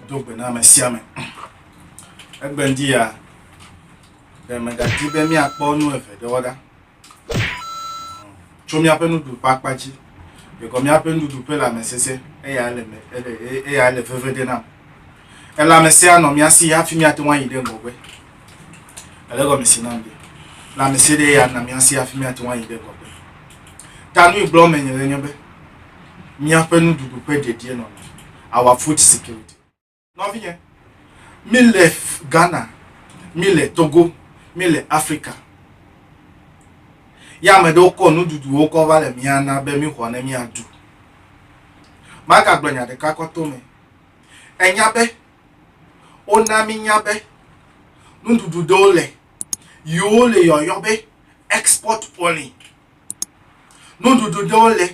do gbe na ame sia ame. Egbe ŋdi ya, ɖe mègadi be míakpɔ nu eve ɖewo ɖa? tso míaƒe nuɖuɖu ƒe akpa dzi because míaƒe nuɖuɖu ƒe lãmesesẽ eya ele me ele e- eya ele veve ɖe nam elãmesẽ anɔ mía si hafi míate ŋu ayi ɖe ŋgɔgbe ele gɔme si nam be lãmesẽ ɖe ya na mía si hafi míate ŋu ayi ɖe ŋgɔgbe ta nui gblɔm menye le nye be míaƒe nuɖuɖu ƒe ɖeɖie nɔnɔ our food security Nɔvinye, mi le Ghana, mi le Togo, mi le Afrika. Ye ame ɖewo kɔ nuɖuɖuwo kɔ va le mia na be mi xɔ ne mia ɖu. Maga gblɔ nya ɖeka kɔ to me. Enya be, wo na mi nya be, nuɖuɖu ɖewo le, yiwo le yɔyɔ be export polling. Nuɖuɖu ɖewo le,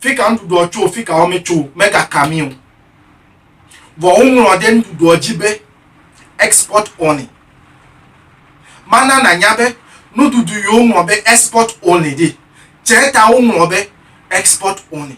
fi ka nuɖuɖuɔ tso, fi ka wometso o, megaka mí o. Vɔ woŋlɔ ɖe nuɖuɖuɔ dzi be export only. Mana nànya be nuɖuɖu yi woŋlɔ be export only ɖee, tsɛta woŋlɔ be export only.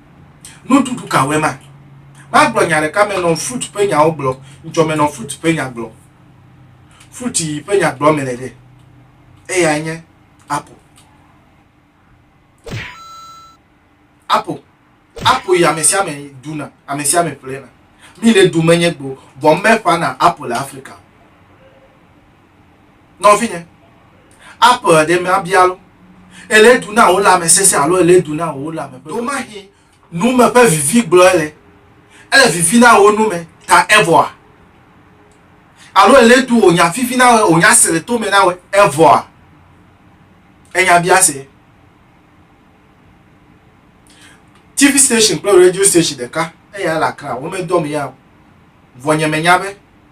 Nuɖuɖu ka wema? Magblɔ nya ɖeka menɔ fruit ƒe nyawo gblɔ ŋtsɔ menɔ fruit ƒe nya gblɔ. Fruit yi ƒe nya gblɔ mele ɖe eya nye apple. Apple, apple yi ame sia ame ɖuna, ame sia ame ƒlena. Mi le du menye gbo, bɔ meƒana apple le Africa. Nɔvinye, aƒe ɖe me abia lo, ele du na wò lãmesesẽ alo ele du na wò lãme ƒe ɖoɖo? Ɖomahi nu me ƒe vivi gblɔ ele, ele vivi na wò nu me ta evɔa? Alo ele du wò nya vivi na wò, wò nya srẽ to me na wò evɔa? Enya bia se. TV station kple radio station ɖeka eya le Accra, womedɔm ya o, vɔ nye menya be.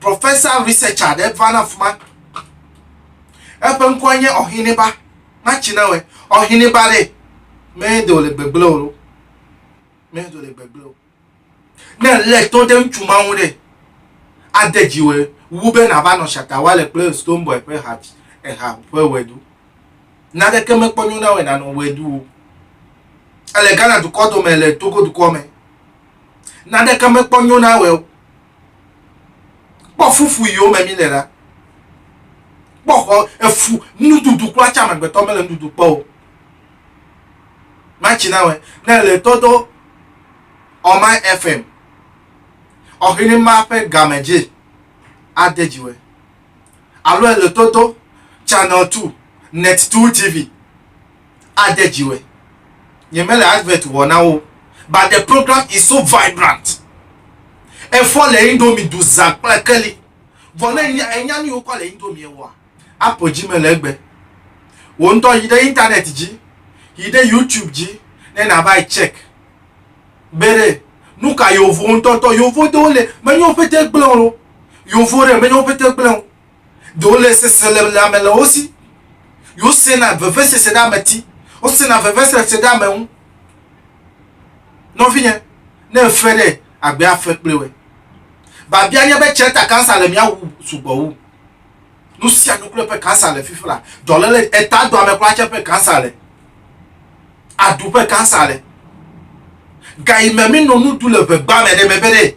Professor researcher aɖe va na fuma. Eƒe ŋkɔa nye Ɔhiniba. Matsi na wɛ. Ɔhiniba ɖe. Mɛ de wòle gbegble o lo. Mɛ de wòle gbegble o. Ne lé to de ŋutsu ma ŋu ɖe, ade dzi wɛ wu be nava nɔ shatawa le kple Stone Boy ƒe ha, eha ƒe wɛ du. Naɖeke mekpɔ nyo na wɛ nanɔ wɛ du o. Ele Ghana dukɔ dome le Togo dukɔ me. Naneke mekpɔ nyo na wɛo. Kpɔ fufu yiwo me mi le ɖa. Kpɔ xɔ efu nududu kura tsa amegbetɔ mele nududu kpɔ o. Matsi na wɛ ne le todo ɔma FM ɔhene ma ƒe game dzi ade dzi wɛ alo ele todo channel 2 net 2 TV. ade dzi wɔe. Nye me le advert wɔ na wo but the program is so vibrant. Efɔ le indomie du za kple keli. Vɔ ne nya enya nu yi wokɔ le indomie wɔa, apple dzi me le egbe. Wò ŋutɔ yi ɖe internet dzi, yi ɖe YouTube dzi ne na va yi check be ɖe nuka yewo vo ŋutɔtɔ yewo vo do wo le. Menye wo ƒete gblẽ wo, yewo vo ɖe menye wo ƒete gblẽ wo. ɖe wole seselelame le wo si, yi wosena vevesese ɖe ame ti, wosena vevesese ɖe ame ŋu. Nɔvinye, ne efe ɖe, agbe afe kple wɛ. Babia nye be tse ta kansa le mia wu sugbɔ wu. Nu sia nu kple ƒe kansa le fifi la, dɔlele eta dɔ ame kura tse ƒe kansa le. Aɖu ƒe kansa le. Ga yi me mi nɔ nu ɖu le ʋegba me ɖe me be ɖe.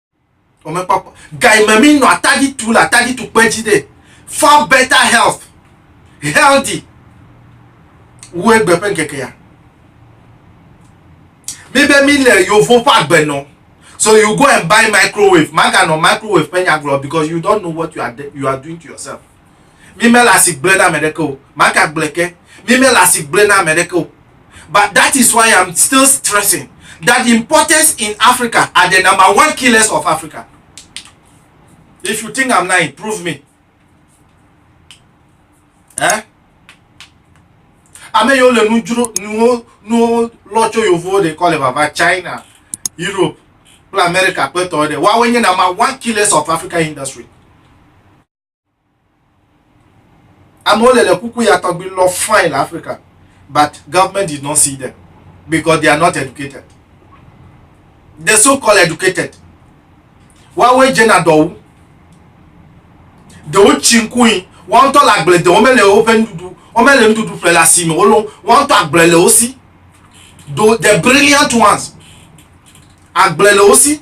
Womekpɔkpɔ. Gaime mi nɔ atadi tu le atadi tu kpe dzi ɖe. For better health. Healthy. Wu egbe ƒe ŋkeke ya. Mi be mi le yovo ƒe agbe nɔ. So you go and buy microwave. Maga nɔ microwave ƒe nya gblɔ because you don't know what you are, you are doing to yourself. Mi me le asi gble na meɖeke o. Maka gble ke. Mi me le asi gble na meɖeke o. But that is why I'm still stressing that importers in Africa are the number one killers of Africa. If you think I'm lying, prove me. Eh? Ame yo le nu dzro nuwo nuwo lɔ tso yovowo de kɔ le vava China, Europe kple America kpetɔ ɖe. Woawoe nye number one killers of Africa industry. Amewo le le kuku ya tɔgbi lɔ fine le Africa but government did not see them because they are not educated. The so-called educated woawoe dzena dɔ wu ɖewo tsi ŋkui wɔn tɔ le agble de womele woƒe nuɖuɖu womele nuɖuɖu ƒle le asi me wolo wɔn tɔ agble le wo si do the brilliant ones agble le wo si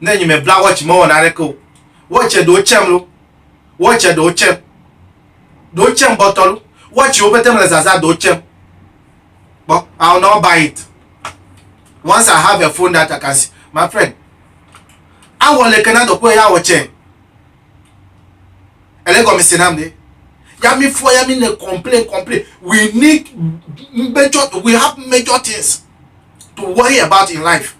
ne nye me bla watch me wɔna aɖeke o watch ɖewo tsem lo watch ɖewo tsem ɖewo tsem bɔtɔ lo watch wo pete me le zaza ɖewo tsem but I will not buy it once I have a phone that I can see my friend awɔ le kena dɔ kɔe ya wɔ tsɛ ele gɔmi se nam de ya mi fɔ ya mi le complain complain we need major we have major things to worry about in life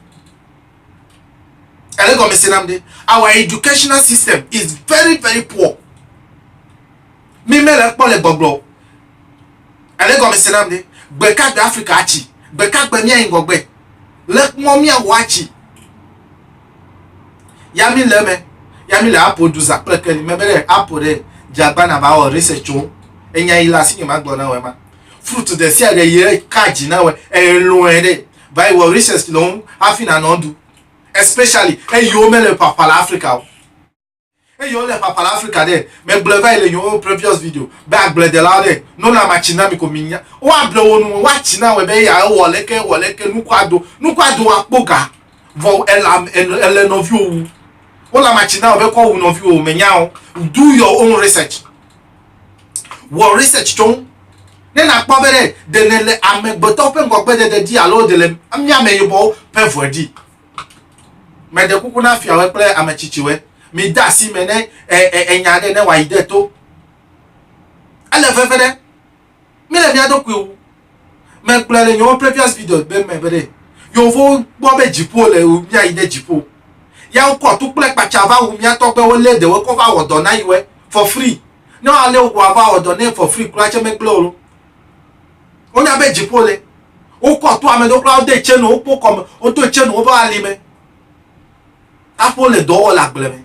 Ele gɔme se nam ɖe. Our educational system is very very poor. Mi me le kpɔ le gbɔgblɔ. Ele gɔme se nam ɖe. Gbe ka gbe Afrika atsi. Gbe ka gbe mia ŋgɔgbe. Le mɔ mia wɔ atsi. Ya mi le me. Ya mi le apo du za kple keli me be ɖe apo ɖe dzagba na ba wɔ research tso. Enya yi la si nyɔ ma gblɔ na wɔ ma. Fruit de sia de ye ka dzi na wɔ. Elɔe ɖe. va yi wɔ research le wo ŋu hafi nànɔ eɖu especially eyiwo mele ƒaƒa le Afrika o. Eyiwo le ƒaƒa le Afrika ɖe, megblɔe va yi le nye previous video be agbledelawo ɖe, nona machinami ko minya. Woable wò nu, woatsi na wòe be eya ewɔ leke, ewɔ leke, nuku ado, nuku ado wò akpo ga vɔ ela, ele nɔviwò wu. Wola matsi na wò be kɔ wu nɔviwò, mènya o. Do your own research. wɔ research tso ŋu ne nakpɔ be ɖe ɖe nèle amegbetɔ ƒe ŋgɔgbedede di alo ɖe le mía ameyibɔwo ƒe ʋe di. Meɖe kuku na fiawe kple ame tsitsiwe, mide asi me ne enya aɖe ne wòayi ɖe to. Ele veve ɖe. Míle mía ɖokuiwo ŋu. Megblɔe le nye wo previous video be me be ɖe Yevowo kpɔ be dziƒo le wu mía yi ɖe dziƒo. Ya wo kɔ tu kple kpatsa va wu mía tɔgbe wo lé ɖewo kɔ va wɔ dɔ na yi we for free. Ne wa lé wa va wɔ dɔ ne for free kura tse me gble wo lo. Wo nya be dziƒo le. Wo kɔ tu ame ɖewo kura wo de chain wo kpo kɔme, wo do chain wo va ali me. Aƒo le dɔ wɔ le agble me.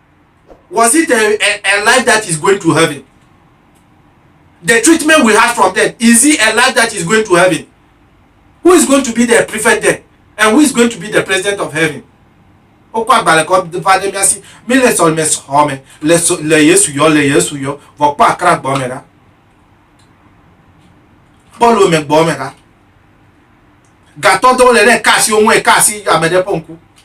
Was it a, a, a life that is going to heaven? The treatment we had from them, is it a life that is going to heaven? Who is going to be the prefect there? And who is going to be the president of heaven? wokɔ agbalẽ kɔ va ɖe mía si mi le sɔlime xɔ me le so le yesu yɔ le yesu yɔ vɔ kpɔ akra gbɔ me ɖa kpɔ lome gbɔ me ɖa gatɔ dɔwo le ne ka asi wo ŋue ka asi ame ɖe ƒe ŋku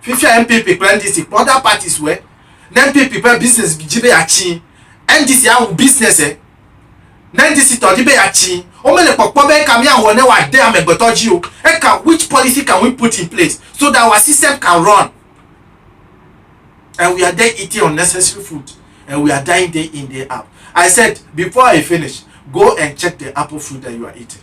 Fifia NPP kple NDC kple other parties wɛ. Ne NPP ƒe business dzi be yeatsi, NDC awu business ɛ. Ne NDC tɔ di be yeatsi, womele kpɔkpɔ be eka míawɔ ne woade amegbetɔ dzi o. Eka which policy can we put in place so that our system can run and we are there eating unnecessary food and we are dying day in day out. I said before I finish, go and check the apple fruit that you are eating.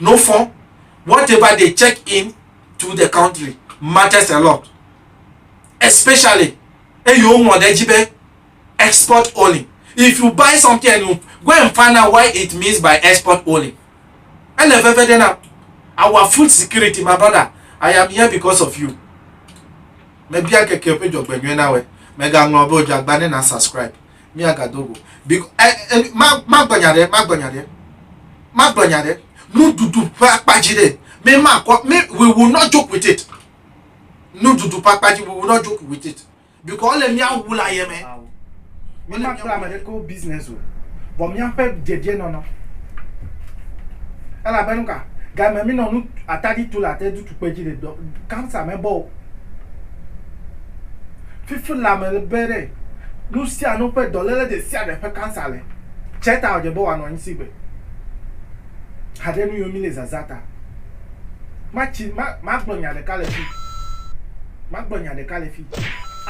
no fɔ whatever they check in to the country matters a lot especially eye woŋlɔ ɖe edzi be export only if you buy something and you go and find out why it means by export only ele veve ɖe na our food security my brother i am here because of you mebia keke ƒe dzɔgbenyuie na wɛ megaŋlɔ be o dze agba ne na subscribe miagado go. Bik ɛ eh, ɛ eh, ma ma gblɔ nya ɖe ma gblɔ nya ɖe ma gblɔ nya ɖe nuɖuɖu ƒe akpa dzi ɖe mi ma kɔ mi we will not joke with it nuɖuɖu ƒe akpa dzi we will not joke with it because le miawu la yɛ mɛ. Mi ma kple ame ɖeke wo business o vɔ miaƒe dedie nɔnɔ elabe nu ka game mi nɔ nu atadi tu la te du tukpe dzi ɖe dɔ kansa mɛ bɔ o. Fifi la me be ɖe nu sia nu ƒe dɔléle ɖe sia ɖe ƒe kansa le. Tse ta wòdze be wòanɔ anyi si gbe haɖe nu yome le zazã ta. Matsi, ma, magblɔ nya ɖeka le fi. Magblɔ nya ɖeka le fi.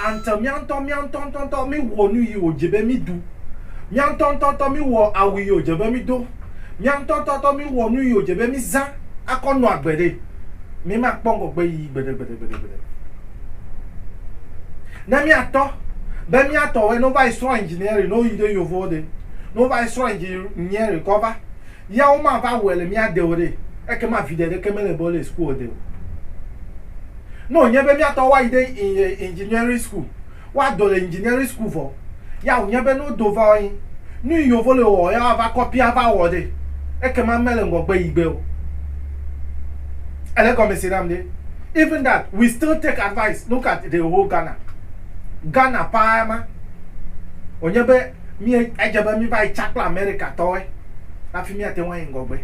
Ante mía ŋutɔ, mía ŋutɔ ŋutɔŋutɔ míwɔ nu yi wòdze be míɖu. Mía ŋutɔ ŋutɔŋutɔ míwɔ awu yi wòdze be mído. Mía ŋutɔ ŋutɔŋutɔ míwɔ nu yi wòdze be mízã akɔ nɔ agbe ɖe, mímakpɔ ŋgɔgbe yiyi gbeɖe, gbeɖe, gbeɖe, gbeɖe. Ne míatɔ be míatɔ wɔe ne wova yi srɔ̃ engineering, ne woyi ɖe yevuwo de, ne wova yi srɔ̃ engineering kɔ va, ya womava wɔe le mía de o ɖe, ekema viɖe ɖeke mele be wole sukua o de o. Ne wònye be míatɔwo ayi ɖe engineering school, Woa dɔ le engineering school vɔ ya wò nya be no do va woanyi nuyi yovo le wɔ ya woa va kɔpi a va wɔ ɖe ekema me le ŋgɔgbe yi gbe o ele gɔme se nam ɖe even that we still take advice look at the whole Ghana Ghana paa ya ma wò nya be mi edze be mi va yi tsa kple America tɔwoe hafi mi ate ŋu ayi ŋgɔgbe.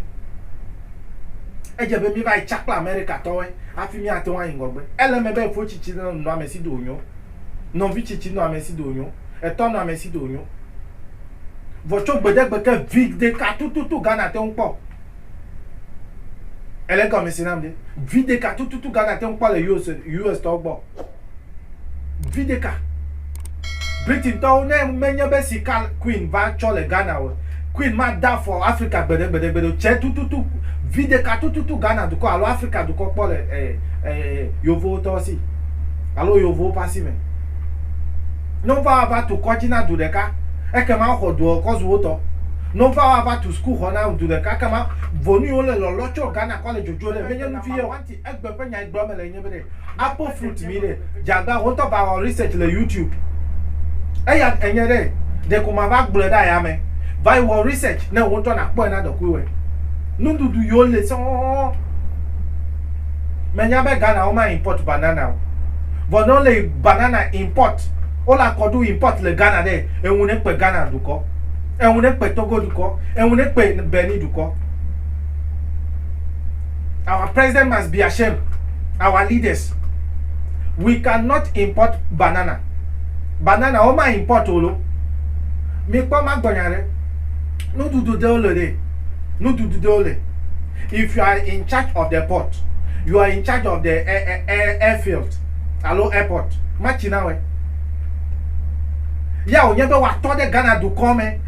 Edze be míva yi tsã kple Amerikatɔwoe hafi míate ŋu ayi ŋgɔgbe. Ele eme be efotsitsi nɔamesi do wònyo, nɔvitsitsi nɔamesi do wònyo, etɔ nɔamesi do wònyo. Vɔ tso gbedegbe ke vi ɖeka tututu Ghana ate ŋu kpɔ o. Èle egɔme sem nam ɖe? Vi ɖeka tututu Ghana ate ŋu kpɔ le US, US-tɔwo gbɔ o. vi ɖeka britaintɔwo ne menye be sika queen va tsɔ le ghana o queen ma da afɔ africa gbeɖegbeɖegbeɖe o tsɛ tututu vi ɖeka tututu ghana dukɔ alo africa dukɔ kpɔ le eh, eh, yovowo tɔ si alo yovowo ƒe asi me ne wova va tu kɔdzi na du ɖeka ekema woxɔ duɔ kɔzu wo tɔ ne wova va tu sukuxɔ na du ɖeka ekema vɔ nu yi wole lɔlɔ tso ghana kɔ le dzodzo ɖe menye nu vi ye o Si egbe ƒe nya gblɔm mele nye be ɖe apple fruit mi ɖe djagba hotɔ va wɔ research le youtube eya enye ɖe ɖeko ma va gblɔe ɖe aya me va wɔ research ne hotɔ na kpɔe na ɖɔkui wɛ nuɖuɖu yiwo le sɔɔ me nya be Ghana wo ma import banana o vɔ ne wole banana import wole akɔɖu import le Ghana ɖe eŋu ne kpe Ghana dukɔ eŋu ne kpe Togo dukɔ eŋu ne kpe Benin dukɔ our president must be ashamed our leaders we cannot import banana banana wo ma import o lo mi kpɔ ma gbɔ nya ɖe nuɖuɖu ɖe wo le ɖe nuɖuɖu ɖe wo le if you are in charge of the port you are in charge of the air, air, air, airfield alo airport ma tsi na wɛ ya wònye be wòatɔ ɖe ghana dukɔ me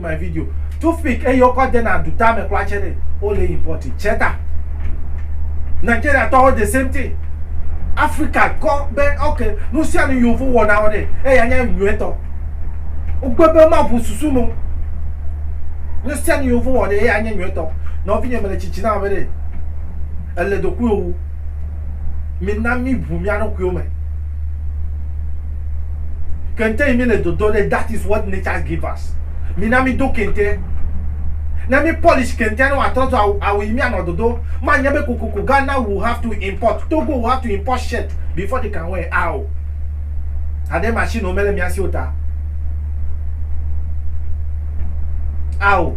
my video toothpick eye wokɔ dena du tame kura tsɛ ɖe wole import tsɛ ta Nigeria tɔwo the same thing Africa kɔ be ok nu sia nu yovo wɔna wo ɖe eya nye nyuietɔ wogbe be maʋu susu mo nu sia nu yovo wɔ ɖe eya nye nyuietɔ nɔvinye mele tsitsi na be ɖe ele dokuiwo wu Mina míʋu mía ɖokuiwo me. Kente yi míle dodo ɖe, that is what nature give us. Mina mído kente. Ne mí polish kentea ne wòatrɔ zu awu, awu yi míanɔ dodo. Manye be kokoko Ghana will have to import, Togo will have to import shirt before they can wear. Ao. Aɖe machine-wo mele mía si o ta. Ao.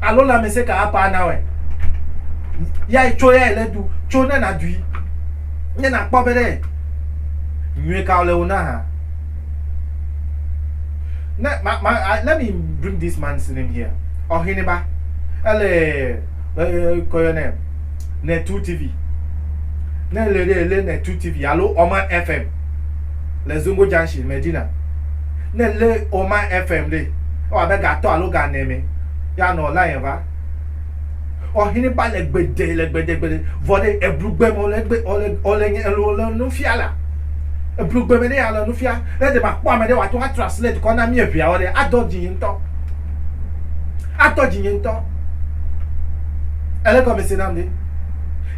alo lãmesẽ ka apa na wɔe ya tso ya le du tso ne na dui ne na kpɔ be ɖe nyuie ka le wo na ha ne ma ma let me bring this man's name here ɔhiniba ele kɔyɔ ne ne tu tv ne le ɖe le ne tu tv alo ɔman fm le zongo junction medina ne le o ma FM le o abe ga tɔ alo ga ne me ya nɔ la yẹn va o hini ba le gbede le gbede gbede vɔ de eblugbe me ole gbe ole ole nye ele ole nufia la eblugbe me ne ya le nufia ne de ma kpɔ ame de wa to translate kɔ na mi evia o de adɔ dzinye ŋutɔ adɔ dzinye ŋutɔ ele gɔme se nam de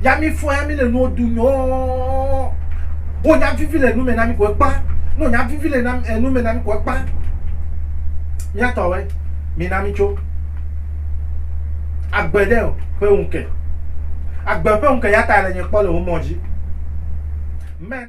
Ya mi fɔ ya mi le nuwo du nyɔɔ. Wo nya vivi le nume na mi ko ekpa. No nya vivi le na eh, nume na mi ko ekpa. Mia tɔ wɛ, mi na mi tso. Agbe ɖe o, ƒe ŋuke. Agbe ƒe ŋuke ya ta le nye kpɔ le wo mɔ dzi. Mɛ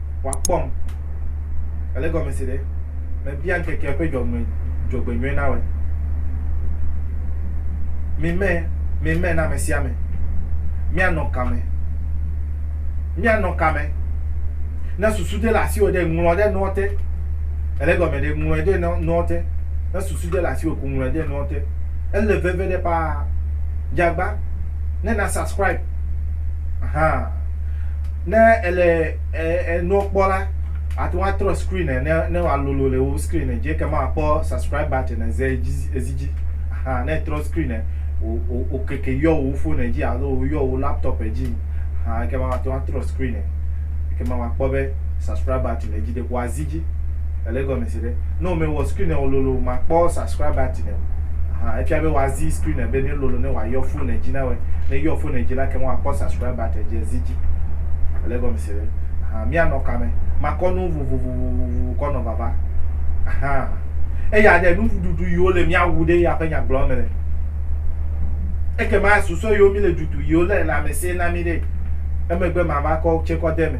wòakpɔm. Èlé gɔme se ɖe? Mebia ŋkekea ƒe dzɔgbenyuie nawɔe. Mimɛ, mimɛ na ame sia ame. Míanɔ kame. Míanɔ kame. Ne susu de le asiwò ɖe, ŋlɔ ɖe nuɔ te. Èlé gɔme ɖe? Ŋlɔe ɖe nuɔ te. Ne susu de le asiwò ko, ŋlɔe ɖe nuɔ te. Ele veviɖe paa. Dze agba. Ne na subscribe. Ahaa. Ne èle enuwo kpɔ la, àte ŋu atrɔ screen ne ne wòalolo le wò screen dzi eke ma àkpɔ subscribe button eze dzi ezi dzi. Aha, ne ètrɔ screen wò wò wòkeke yɔ wò phone dzi alo wòyɔ wò laptop dzi. Aha, eke ma àte ŋu atrɔ screen eke ma wòakpɔ be subscribe button le edzi ɖe. wa zi dji ele gɔme se ɖe ne wo me wɔ screen ne wo lolo ma kpɔ subscribe button ne o hã efia be wa zi screen ne be ne lolo ne wa yɔ phone dji na wɛ ne yɔ phone dji la ke me wa kpɔ subscribe button dji ezi dji ele gɔme se ɖe hã mia nɔ kame ma kɔ nu vovovovovovo kɔ nɔ vava hã eya ɖe nu ɖuɖu yiwo le mia wu ɖe ya ƒe nya gblɔ me le eke ma susɔ yiwo mi le ɖuɖu yiwo le le ame se na mi ɖe emegbe ma va kɔ tse kɔ de me